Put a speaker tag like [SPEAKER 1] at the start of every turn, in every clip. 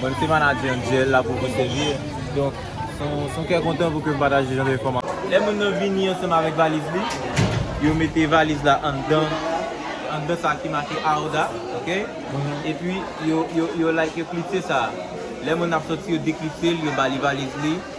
[SPEAKER 1] Bon m se manager Angel la pou Poste Vie donk son kè kontan pou ke m pataje jan de enfòmasyon. Lè moun nan vini ansanm avèk valiz li, yo mete valiz la anndan anndan sa ki make Arda ok epi yo yo like yo klipse sa lè moun nan ap sòti yo deklipse l yo ba li valiz li.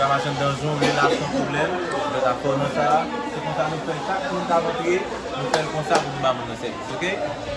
[SPEAKER 1] Ramazan danzon relasyon pwoblèm mwen ta fèw nan sa se konsa nou fèl chak moun kap antre nou fèl konsa pou nou ba moun nan sèvis ok.